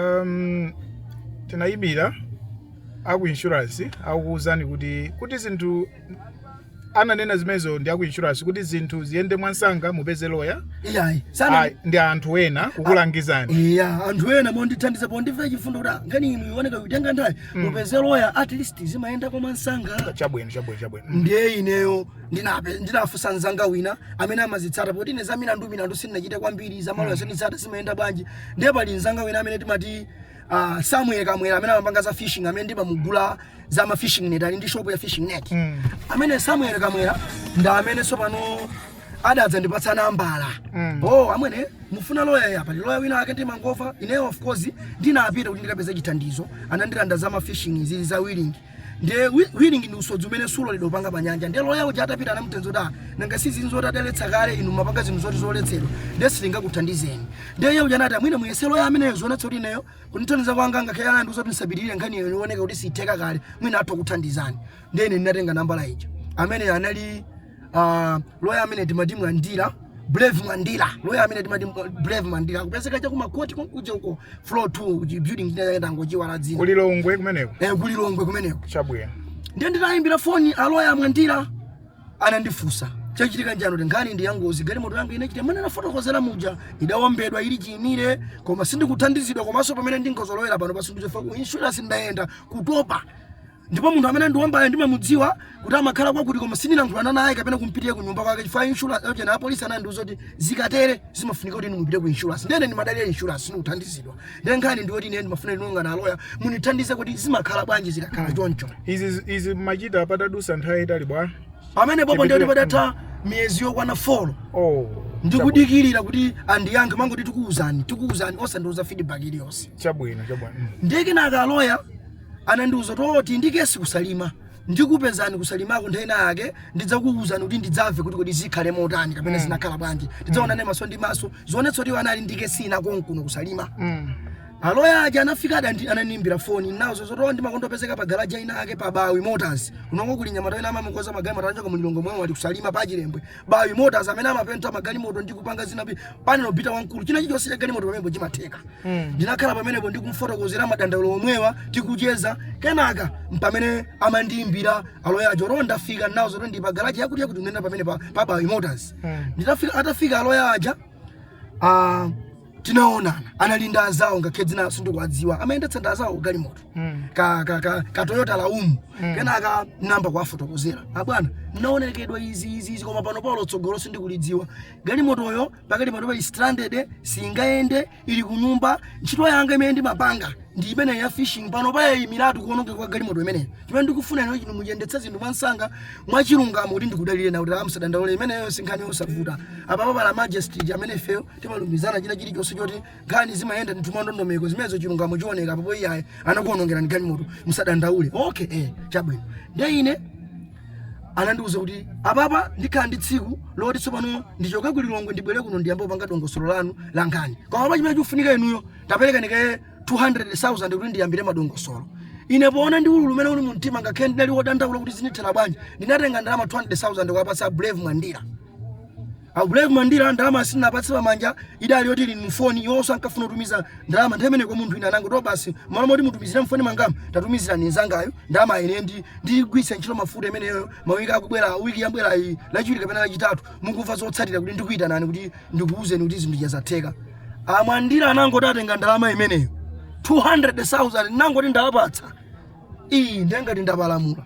Um, tinayimbira aku insurance akuwuzani kuti kuti zinthu ananena zimenezo ndi aku insurance kuti zinthu ziyende mwansanga mupeze loya iyayi sana Ayi, ndi anthu ena kukulangizani iya anthu ena mondithandiza pondimvera chifundo kuti ah, nkhaniyi ioneka ikutenga nthawi mupeze loya at least zimayenda kwa mwansanga chabwino chabwino chabwino ndiye ineyo ndinape ndinafunsa mzanga wina amene amazitsata poti ine za milandu milandu sindinachite kwambiri za malo ya sinditsata zimayenda bwanji ndiye pali mzanga wina amene timati uh, samuel kamwera amene amapanga za fishing amene ndimamugula za ma fishing net ali ndi shop ya fishing net Mm. amene samuel kamwera ndi amene tsopano adadzandipatsa nambala Mm. oh amwene mufuna loya ya pali loya wina ake ndimangomva ineyo of course ndinapita kuti ndikapeze chithandizo anandilanda za ma fishing zili za willing Nde whi- whirling ndi usodzi umene suloledwa kupanga pa nyanja. Nde loya uja atapita anamuuza kuti ah, nanga si zinthu zoti adaletsa kale inu mapanga zinthu zoti zoletsedwa. Nde sitingakuthandizeni. Nde iye uja anati "Ah, mwina muyese loya ameneyo zoonetsa kuti ineyo kundithandiza kwanga ngakhale anandiuza kuti ndisapitirire nkhani iyo ioneka kuti siitheka kale mwina atha kuthandizani. Nde ine ndinatenga nambala ija. Amene anali uh, loya amene timati mwandira brave mwandira loya amene timati brave mwandira akupezeka cha kumakoti kuja uko floor 2 kuchi building ndinayenda ndangochiiwala dzina ku lilongwe kumeneko eh ku lilongwe kumeneko chabwino ndiye nditayimbira foni aloya mwandira anandifunsa chachitika nchiyani kuti nkhani ndi yangozi galimoto yanga ine ija mmene ndafotokozera muja idawombedwa ili chiimire koma sindikuthandizidwa komanso pamene ndinkazolowera pano sindikuthandizidwa ku insurance ndayenda kutopa ndipo munthu amene andiwombayo ndimamudziwa kuti amakhala kwakuti koma sindinalankhulana naye kapena kumpitira ku nyumba kwake chifukwa insurance yo ndi apolisi anandiuza kuti zikatere zimafunika kuti mupite ku insurance ndene ndimadalira insurance sindikuthandizidwa ndiye nkhani ndi yoti ine ndimafuna ndionane ndi aloya mundithandize kuti zimakhala bwanji zikakhala choncho izi izi mwachita patadusa nthawi yaitali bwanji pamenepo po ndiye Chipitire- padatha miyezi yokwana folo oh ndikudikirira kuti andiyankhe amangoti tikuwuzani tikuwuzani osandiuza feedback iliyonse chabwino chabwino ndiye kenaka aloya anandiuza kuti iwo ali ndi kesi kusalima ndikupezani kusalimako nthawi ina yake ndidzakuuzani kuti ndidzamve kuti kodi zikhale motani kapena zinakhala bwanji tidzaonane maso ndi maso zoonetsa kuti iwo anali ndi kesi ina konkuno kusalima aloya aja anafika adandi ananimbira foni nawo zoti ndimakondopezeka pa garaja ina ake pa bawi motors kunoko kuli mnyamata wina amakonza magalimoto anachoka mulilongwe mwawo ali kusalima pa chilembwe Bawi Motors amene amapenta magalimoto ndi kupanga zina za panel bita wamkulu china chilichonse cha galimoto pamenepo chimatheka mm. ndinakhala pamenepo ndi kumfotokozera madandaulo omwewa tikucheza kenaka mpamene amandiimbira aloya aja kuti ndafika nawo zoti ndili pa garage yakuti yakuti ndinena pamene pa, pa Bawi Motors mm. nditafika atafika aloya aja ah, tinaonana anali ndi anzawo ngakhe dzina sindikuwadziwa amayendetsa ndi anzawo galimoto mm. ka, ka, ka, ka toyota laumu mm. kenaka nayamba kuwafotokozera abwana ah, ndaonongedwa izi izi izi koma pano paulo tsogolo sindikulidziwa galimotoyo pakati panopa i stranded singayende ili kunyumba ntchito yanga imene ndimapanga ndi imene ya fishing pano payaimiratu kuonongeka kwa galimoto imeneyo chimene ndikufuna ine ncho muyendetse zinthu mwansanga mwachilungamo kuti ndikudalire nawo kuti ah musadandaule imeneyo ndi nkhani yosavuta apapa pali majesty amene ifeyo timalumizana china chilichonse choti nkhani zimayenda ndithu mwandondomeko zimenezo chilungamo chioneka papo iyeyo anakuonongerani galimoto musadandaule okay eh chabwino ndiye ine anandiuza kuti apapa ndikhala ndi tsiku loti tsopano ndichoke ku lilongwe ndibwere kuno ndiyambe kupanga dongosolo lanu la nkhani koma pa chimene chikufunika inuyo taperekani kaye 200,000 kuti ndiyambire madongosolo ine poona ndi ululu umene uli mu mtima ngakhale ndinali wodandaula kuti zindithera bwanji ndinatenga ndalama 200,000 kuwapatsa a brave mwandira A Brave Mwandira ndalama sindinapatse pamanja idali yoti ili mfoni iwonso ankafuna kutumiza ndalama nthawi imeneyo kwa munthu wina anangoti ah basi malo moti mutumizire mfoni mwangamu tatumizirani nzangayo ndalama ine ndi ndigwiritsa ntchito mafuta imeneyo mawiki akubwera wiki yabwera iyi lachiwiri kapena lachitatu mukumva zotsatira kuti ndikuyitanani kuti ndikuwuzeni kuti zinthu zatheka amwandira anangoti atenga ndalama imeneyo 200,000 ndinangoti ndawapatsa iii ndiye ngati ndapalamula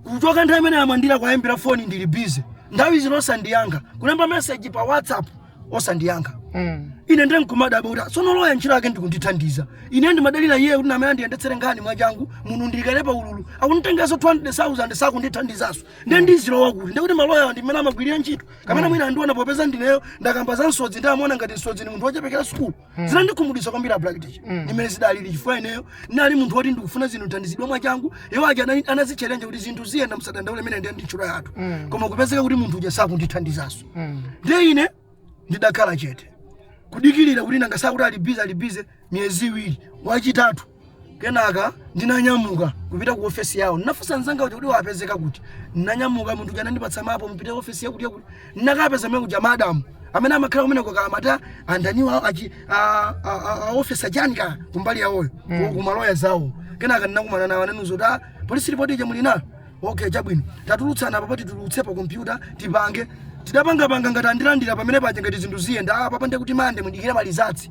kuchoka nthawi imene amwandira kuwayimbira foni ndili bize nthawi zino osandiyankha kulemba meseji pa whatsapp osandiyankha Mm. ine ndiye nkumadabwa kuti tsono loya ntchito yake ndikundithandiza ine ndimadalira iye kuti ndi amene andiyendetsere nkhani mwachangu munthu ndikale pa ululu akunditengeranso 200000 sakundithandizanso ndiye ndizilowa kuti ndiye kuti maloyawa ndi mmene amagwirira ntchito kapena mwina akundiona popeza ndineyo ndakamba za msodzi ndi amaona ngati msodzi ni munthu wochepekera sukulu Mm. zinandikhumudwitsa kwambiri ablack ticha Mm. ndimene zidalili chifukwa ineyo ndinali munthu woti ndikufuna nditathandizidwa mwachangu iwo aja anali- anadzitchalenja kuti zinthu ziyenda msadandaule imeneyo ndiye ndi ntchito yathu Mm. koma kupezeka kuti munthu uja sakundithandizanso Mm. ndiye ine ndidakhala chete kudikirira kuti nanga akuti ali bize ali bize miyezi iwiri wachitatu Kenaka ndinanyamuka kupita ku ofesi yawo. Ndinafunsa mnzanga uja kuti, Iwo amapezeka kuti? Ndinanyamuka, munthu uja anandipatsa mapu, Mupite ku ofesi yakutiyakuti. Ndinakapeza kumene kuja madamu amene amakhala kumeneko kaya amati a ndaniwo a- achi- a- a- a- a ofesi achani kaya kumbali yawoyo ku- ku maloya zawo. Kenaka ndinakumana nawo anandiuza kuti, "Ah, polisi lipoti ija muli nayo? Okay, chabwino. Tatulutsani apa apa titulutse pa kompyuta tipange. Tidapangapanga ngati andilandira pamene paja ngati zinthu ziyenda. Ah, apapa ndiye kuti mande mudikire ma rizatsi.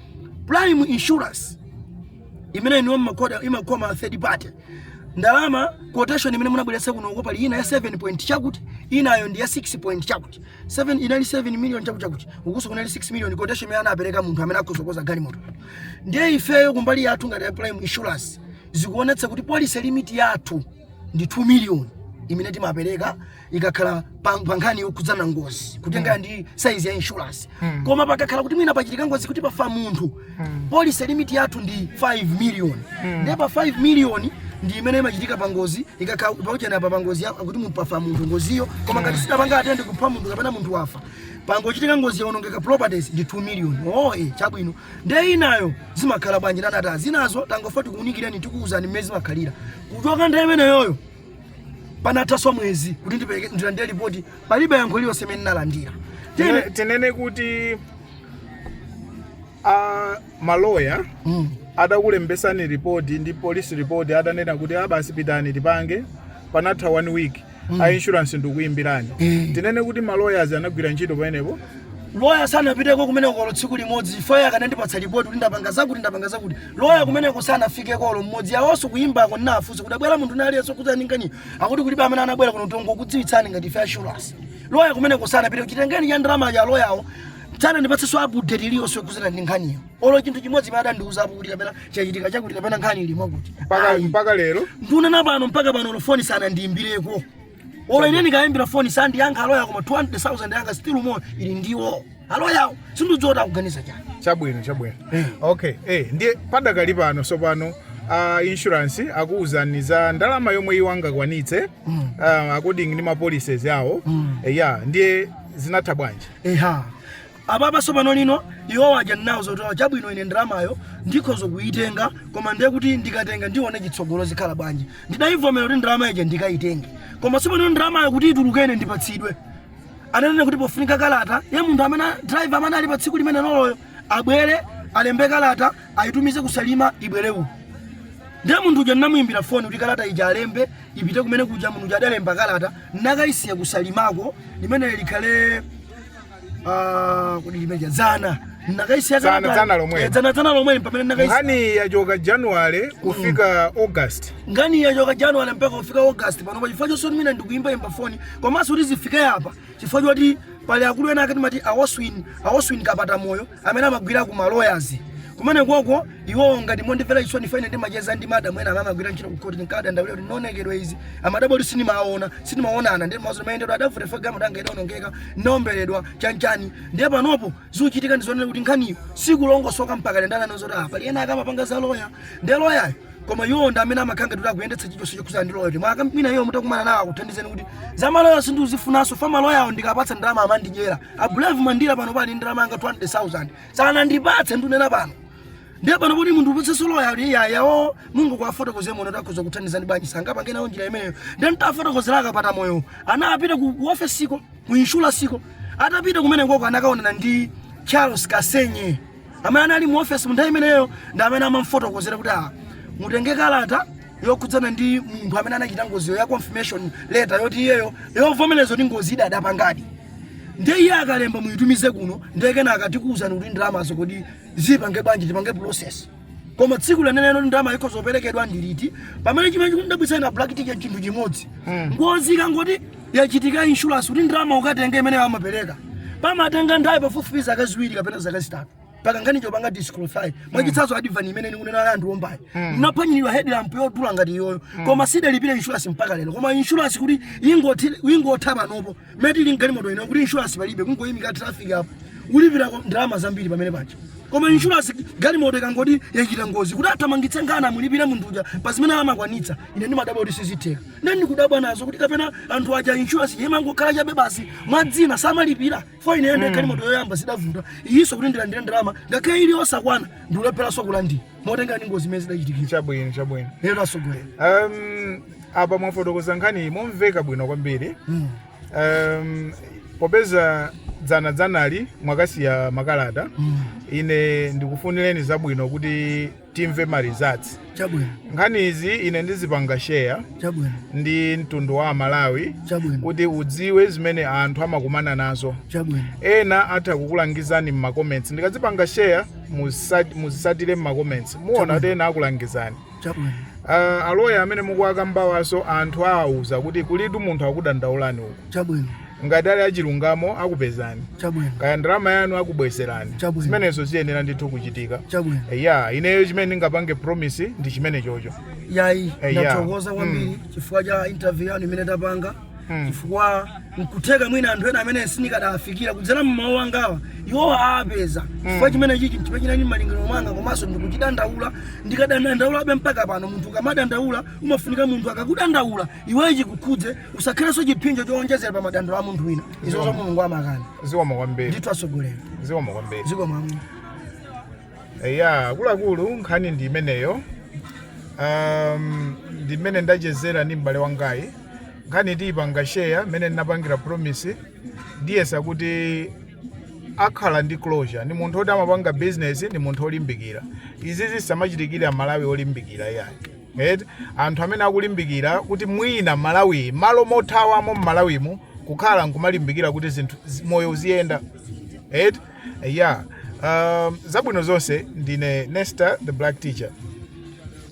prime insurance imene iwowo amagunda imakava third party ndalama quotation imene munabweretsa kuno uko panali ina ya 7 point chakuti inayo ndi ya 6 point chakuti 7 inali 7 million chakuti chakuti ukunso kunali 6 million quotation imene anapereka munthu amene akhoza kukonza galimoto ndiye ifeyo kumbali yathu ngati a prime insurance zikuonetsa kuti policy limit yathu ndi 2 million imene timapereka ikakhala pa pa nkhani yokhudzana ngozi kutengera ndi saizi ya insurance Mm. koma pakakhala kuti mwina pachitika ngozi kuti pafa munthu Mm. policy limiti yathu ndi 5 million Mm. ndiye pa 5 million ndi imene imachitika pa ngozi ikakhala pokhudzana pa pangozi ya- kuti munthu pafa munthu ngoziyo koma ngati sidapange atende kupha munthu kapena munthu wafa pangochitika ngozi yaonongeka properties ndi 2 million oe chabwino ndiye inayo zimakhala bwanji nana ta zinazo tangofa tikuunikireni tikuuzani mmene zimakhalira kuchoka nthawi imeneyoyo panathanso mwezi kuti ndipeleke- ndilandire lipoti palibe yankho liyonse imene ndinalandira Tene- Tene- tinene kuti a maloya Mm. adakulembetsani ripoti ndi police ripoti adanena kuti ah basi pitani tipange panatha one week a insurance ndikuimbirani tinene kuti ma lawyers anagwira ntchito pamenepo loya sanapiteko kumeneko olo tsiku limodzi chifukwa iwo akanandipatsa lipoti kuti ndapanga zakuti ndapanga zakuti loya kumeneko sanafikeko olo mmodzi awonso kuyimbako ndinafunsa kuti abwera munthu wina aliyense kuti aone nkhani akuti kulibe amene anabwera kuno tingokudziwitsani ngati ife a insurance loya kumeneko sanapiteko chitengereni cha ndalama aloyawo sanandipatsenso update iliyonse yokhudzana ndi nkhaniyo olo chinthu chimodzi chimene adandiuzapo kuti kapena chachitika chakuti kapena nkhani ili mwakuti mpaka Ayi. mpaka lero ndikunena pano mpaka pano olo foni sanandiyimbireko olo ine ndikayimbira foni sandiyankha aloya koma 200000 yanga still more ili ndi iwo aloyawo sindidziwa kuti akuganiza chani chabwino chabwino okay eh ndiye padakali pano tsopano uh, insurance akuwuzani za ndalama yomwe iwo angakwanitse Mm. uh, according ndi ma policies awo Mm. Eh, ya ndiye zinatha bwanji eha apapa tsopano lino iwo wadya nawo zotola chabwino ine ndalamayo ndikhoza kuyitenga koma ndiye kuti ndikatenga ndione chitsogolo zikhala bwanji ndidayivomera kuti ndalama ija ndikayitenge koma tsopano ndalamayo kuti ituluke ine ndipatsidwe ananena kuti pofunika kalata ya munthu amene driver amene anali pa tsiku limeneloloyo abwere alembe kalata ayitumize ku Salima ibwere uku ndiye munthu uja ndinamuyimbira foni kuti kalata ija alembe ipite kumenekuja munthu uja adalemba kalata nakayisiya ku Salimako limene likhale Ah, kodi limeja dzana ndakaisiya Dzana- kalata- dzana lomweli. Eh, dzana dzana lomweli pamene ndakaisiya nkhani yachoka january kufika august nkhani yachoka january mpaka kufika august panopa chifukwa choti ine ndikuimbaimba foni komanso kuti zifike apa chifukwa choti pali akulu ena akuti amati a Oswin a Oswin Kapatamoyo amene amagwira ku maloyazi kumenekoko iwowo ngati mondimvera chisoni chifukwa ine ndimacheza ndi madam ena amene amagwira ntchito ku court ndinkadandaulira kuti ndionekedwe izi amadabwa kuti sindimaona sindimaonana ndiye ndimawauza mayendedwe adavuta chifukwa galimoto yanga idaonongeka ndinaomberedwa chanchani ndiye panopo zikuchitika ndizionera kuti nkhaniyo sikulongosoka mpaka ndiye ananena zoti pali ena akamapanga za loya ndiye loyayo koma iwo ndi amene amakhala ngati akuyendetsa chilichonse chokhudzana ndi loya kuti mwaka mwina iwo mutakumana nawo akuthandizeni kuti za maloya sindikuzifunanso chifukwa maloyawo ndikapatsa ndalama amandidyera a Brave Mandira pano pali ndalama yanga 200,000 sanandipatse ndunena pano ndiye pano kuti munthu upatse solo yawo iya yawo mungu kawafotokozere muno takhoza kuthandizani bwanji sangapangenso njira imeneyo ndiye ntafotokozera a Kapatamoyo anapita ku ku ofesiko ku inshuwalansiko atapita kumenekoko anakaonana ndi charles kasenye amene anali mu ofesi mu nthawi imeneyo ndi amene amamfotokozera kuti ah mutenge kalata yokhudzana ndi munthu amene anachita ngoziyo ya confirmation letter yoti iyeyo yovomereza kuti ngozi ida adapangadi ndiye iye akalemba muyitumize kuno ndiye kenaka tikuwuzani kuti ndalamazo kodi zipange bwanji tipange process koma tsiku leneleno ndalama ikhoza kuperekedwa ndi liti pamene chimene chikundidabwitsa ine black ticket chinthu chimodzi ngozi ikangoti yachitika insurance kuti ndalama ukatenge imene amapereka pamatenga nthawi pafupifupi zaka ziwiri kapena zaka zitatu paka nkhani chopanga disqualify mwachitsanzo advan imene ndikunena ya anthu ombayo ndinaphwanyidwa headlamp yodula ngati iyoyo koma sidalipira insurance mpaka lero koma insurance kuti ingoti- ingotha panopo mmene tili mgalimoto ino kuti insurance palibe kungoyimika traffic apo ulipira kwa- ndalama zambiri pamene paja koma insurance galimoto ikangoti yachita ngozi kuti athamangitse nkhani mulipire munthu uja pa zimene amakwanitsa ine ndimadabwa kuti sizitheka ndiye ndikudabwa nazo kuti kapena anthu aja insurance imangokhala chabe basi mwadzina samalipira fo ineyo ndekha galimoto yoyamba zidavuta iyinso kuti ndilandire ndalama ngakhale ili yosakwana ndikulepheranso kulandira motengera ndi ngozi mmene zidachitikira chabwino chabwino lero atsogoleri um, apa mwafotokoza nkhani momveka bwino kwambiri Mm. um, popeza dzana dzanali mwakasiya makalata Mm. ine ndikufunireni zabwino kuti timve ma results chabwino nkhani izi ine ndizipanga share chabwino ndi mtundu wa aMalawi chabwino kuti udziwe zimene anthu amakumana nazo chabwino ena atha kukulangizani m'macomments ndikazipanga share musa- muzisatire m'macomments muona kuti ena akulangizani chabwino uh, aloya amene mukuwakambawanso anthu awauza kuti kulitu munthu akudandaulani uku chabwino Ngati ali achilungamo akupezani. Chabwino. Kaya ndalama yanu akubwezerani. Chabwino. Zimenezo ziyenera ndithu kuchitika. Chabwino. Ya, ineyo chimene ndingapange promise ndi chimenecho. Yayi, Eh, ya. ndathokoza Mm. kwambiri chifukwa cha interview yanu imene tapanga. Mm. Chifukwa nkutheka mwina anthu ena amene sindikadawafikira kudzera mmawu angawa iwo apeza chifukwa chimene chichi chimene chinali m'malingiro mwanga komanso ndikuchidandaula ndikadandaulabe mpaka pano munthu ukamadandaula umafunika munthu akakudandaula iweyo chikukhudze usakhalenso chiphinjo chowonjezera pa madandaulo a munthu wina izozo Mulungu amakana zikomo kwambiri ndithu atsogoleri zikomo kwambiri zikomo kwambiri eya akuluakulu nkhani ndi imeneyo um, ndi mmene ndachezera ndi m'bale wangayi nkhani tiyipanga sheya mmene ndinapangira promise ndiyesa kuti akhala ndi closure ndi munthu oti amapanga business ndi munthu olimbikira izi zisamachitikire aMalawi olimbikira iyayi Eti anthu amene akulimbikira kuti mwina Malawiyi malo mothawamo m'Malawimu kukhala nkumalimbikira kuti zinthu zi- moyo uziyenda eti ya um, zabwino zonse ndine Nesta the Black Teacher.